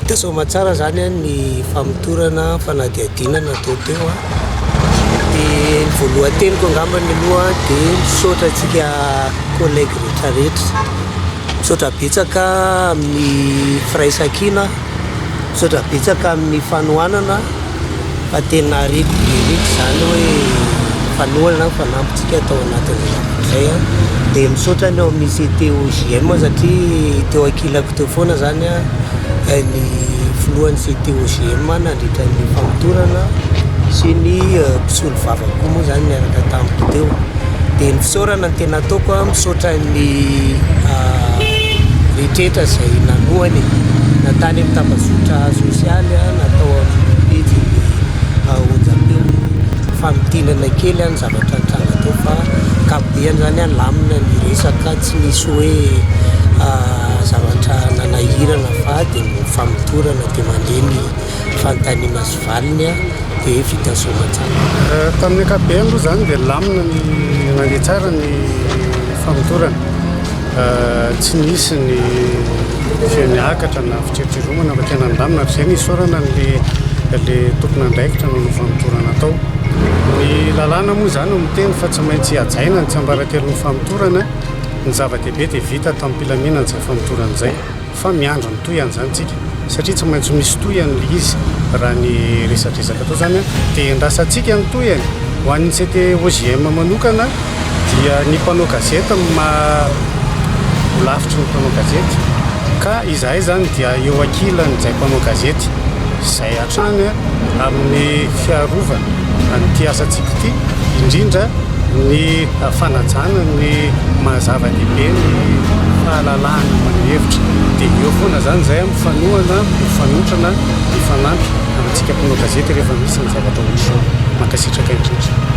Teo Soamatsara izany eh, ny famotorana fanadihadiana natao teo ah. dia ny voalohan-teniko angamba ny loha ah, dia misaotra antsika collègue rehetra rehetra misaotra betsaka amin'ny firaisankina misaotra betsaka amin'ny fanohanana fa tena ariko mihitsy izany hoe mpanohana ny fanampintsika tao anatin'izay antoko izay an, dia misaotra ny ao amin'ny CTOJM satria teo ankilako teo foana izany an ny filohan'ny CTOJM nandritra ny famotorana sy ny mpisolo vava koa moa izany niaraka tamiko teo, dia ny fisaorana ny tena. Nataoko a, misaotra ny rehetra izay nanohana e, na tany amin'ny tambazotra sosialy a, na tao amin'ny pejin'ny onjam-peo e, fa mitinana kely a ny zavatra nitranga teo fa ankapobeny izany a lamina ny resaka, tsy nisy hoe zavatra nanahirana fa dia ny famotorana dia mandre ny. fanontaniana sy valiny dia vita soa aman-tsara. Tamin'ny ankapobeny aloha izany dia lamina ny nandeha tsara ny famotorana. Tsy nisy ny feo niakatra na fitsiritsiromana fa tena nilamina ary izay no isaorana an'ilay tompon'andraikitra nanao famotorana tao. Ny lalàna moa izany no miteny fa tsy maintsy hajaina ny tsiambaratelon'ny famotorana. Ny zava-dehibe dia vita tamim-pilaminana izay famotorana izay. Fa miandry ny tohiny izany tsika satria tsy maintsy misy tohiny le izy raha ny resadresaka atao izany an, dia endrasantsika ny tohiny. Ho an'ny CTOJM manokana dia ny mpanao gazety no maha lavitry ny mpanao gazety ka izahay izany dia eo ankilan'ny izay mpanao gazety izay hatrany amin'ny fiarovana an'ity asantsika ity indrindra ny fanajana ny maha zava-dehibe ny fahalalahana maneho hevitra dia eo foana izany izay a, mifanohana, mifanotrana, mifanampy amintsika mpanao gazety rehefa misy ny zavatra ohatr'izao. Mankasitraka indrindra.